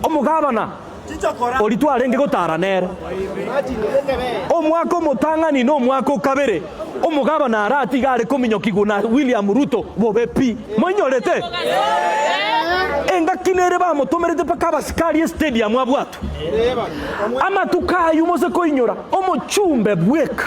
Omogabana oria twarenge gotaara nere. Omwaka omotang'ani nomwaka o kabere omogabana arati iga are kominyokigwa na William Ruto bobe pi. Moinyorete? Engaki nere bamotomerete mpaka abasikari estadium abwatwe amatuko aywo mose koinyora omochumbe bweka.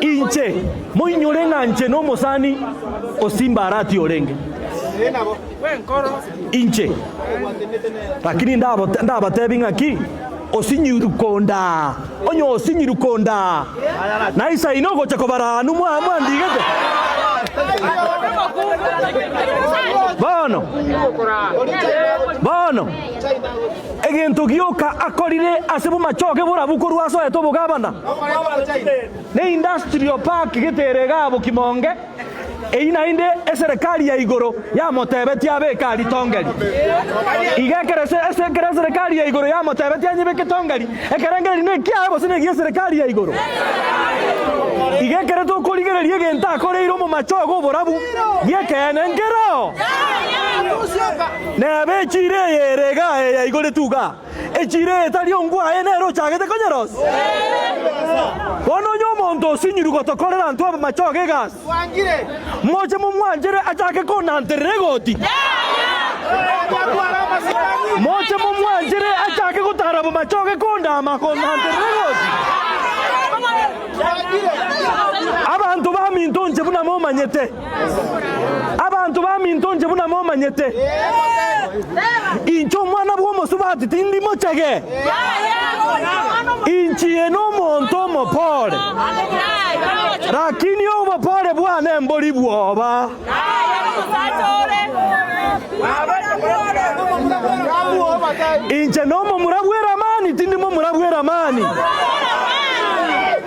Inche, moinyore ng'a nche nomosani o Simbarati orenge inche. Lakini ndabatebi ng'a ki? Osinyiru kondaa, onye osinyiru kondaa, na isaino ogocha kobara anu mwandigete. Bono, bono. Egento gioka akorire ase bomachoge borabu korwa ase oete obogabana ne industrial park getere egabo kimonge, eyi naende eserekari ya igoro yamotebetie abeke aritongeri. Iga ekero eserekari ya igoro yamotebetie anyebeke tongeri, ekerengererio nekiaye gose negi'eserekari ya igoro. Iga ekero tokorigereria egento akoreire omomachoge oborabu, giekeene nkeroo. Nebe echiira eye ere igaa eye yaigoretwe igaa, echiira eye tari ongwe aye nere ochagete konyerosia. Bono onye omonto osinyirwe gotokorera intwe abamachogo egasi, moche momwanchere achake konanterera egoti yaye? Moche momwanchere achake gotara abamachogo ekondaama konanterera egoti yaye? Abanto baminto inche buna momanyete. Abanto baminto inche buna momanyete, inche omwana bw'omosubati tindi mochege, inchie nomonto omopore, lakini obopore bwane mbori bwoba. Inche nomomura bw'eramani tindi momura bw'eramani.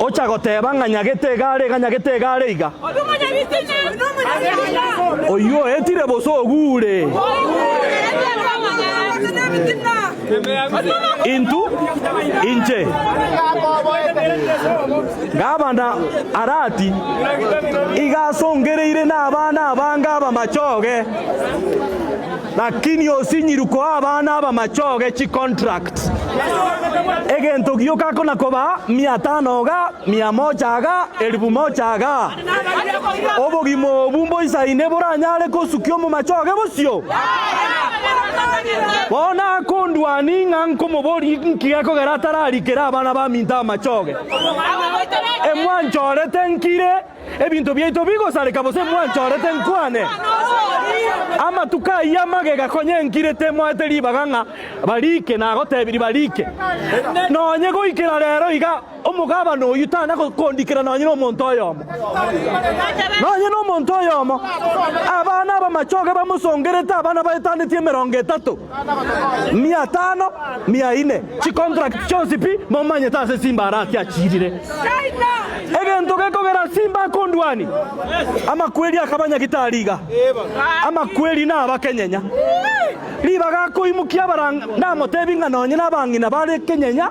Ocha goteba ng'a nyagete egare iga, nyagete egare iga. Oyio oetire bosa ogure. Intu inche. Gavana Arati iga asongereire nabana abange abamachoge. Lakini osinyiru koa abana aba machoge chi contract egento gioka ko na kobaa mia tano iga mia mocha iga elifu mocha iga obogima obu mboisaine boranyare kosukia omo machoge bosio bono akondua ning'a nkomobori nki gekogera atararikera abana baminto amachoge emwanchorete nkire Ebinto biaito bigosareka bosa mwanchorete nkwane. Amatuko ayio amagega konya enkirete moete ribaga ng'a barike nagotebirie barike. Nonye goikera rero iga omogabana oyio tana kondikera nonye nomonto oyomo. Nonye nomonto oyomo abana abamachoge bamosongerete abana baetaneti emerongo etato. mia etano, mia ine, chicontract chionsi pi, momanyete ase Simba ara ki achiirire. Egento gekogera Simba akondwani, amakweri akaba nyagitari iga, amakweri na abakenyenya. Ribaga akoimokia abaranga, namotebi ng'a nonye nabang'ina bare kenyenya.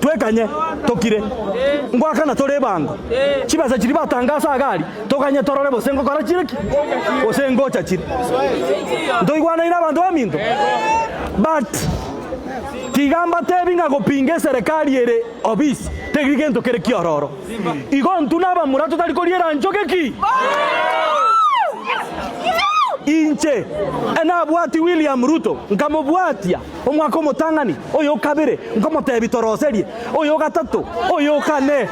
Twekanye tokire. Ngoakana tore ebango. Chibesa chiria batanga ase agari toganye torore gose ngokora chire ki gose ngocha chire. Ntoigwanaine abanto baminto. But tiga mbatebi ng'a gopinga eserekari ere obisi teri gento kere kiororo. Igo intwe nabamura totari koriera enchoge ki? Inche nabwati William Ruto nkamobwatia. Omwaka omotang'ani, oyo o kabere nkomoteebia toroserie, oyo o gatato, oyo o kane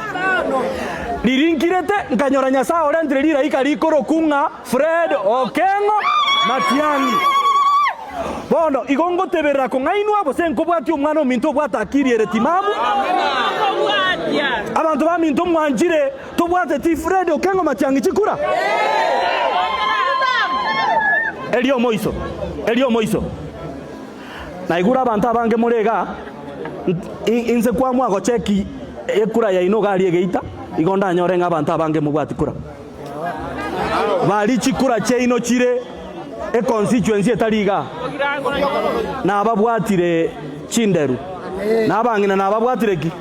ririnkirete, nkanyora Nyasae orentire riraika riikoroku ng'a Fred Okengo Matiang'i. Bono igo ngoteberera kong'ainwa gose nkobwatia omwana ominto obwate akiri ere timabu. Abanto baminto mwanchire tobwateti Fred Okengo Matiang'i chikura? Erio omoiso, erio omoiso. Naigure abanto abange more iga, inse kwamwa gocheki ekura yaino iga aria egeita, igo ndanyore ng'a abanto abange mobwati kura. Bari chikura chiaino chire econstituency etari iga, nababwatire chinderu, na abang'ina nababwatire ki?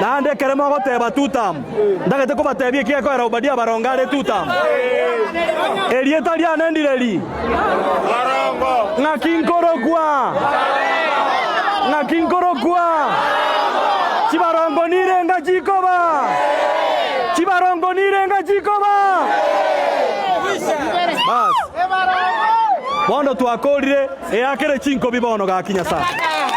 Naende ekero mogoteba Tutamu, ntagete kobatebia ekigekoera Obadia abaronge are Tutamu. Erieta riane ndire ri? Ng'aki nkorokwa? Ng'aki nkorokwa? Chibarongo nire enga chikoba? Chibarongo nire enga chikoba? Bas. Bono twakorire eakere chinkobi bono gaki Nyasaye.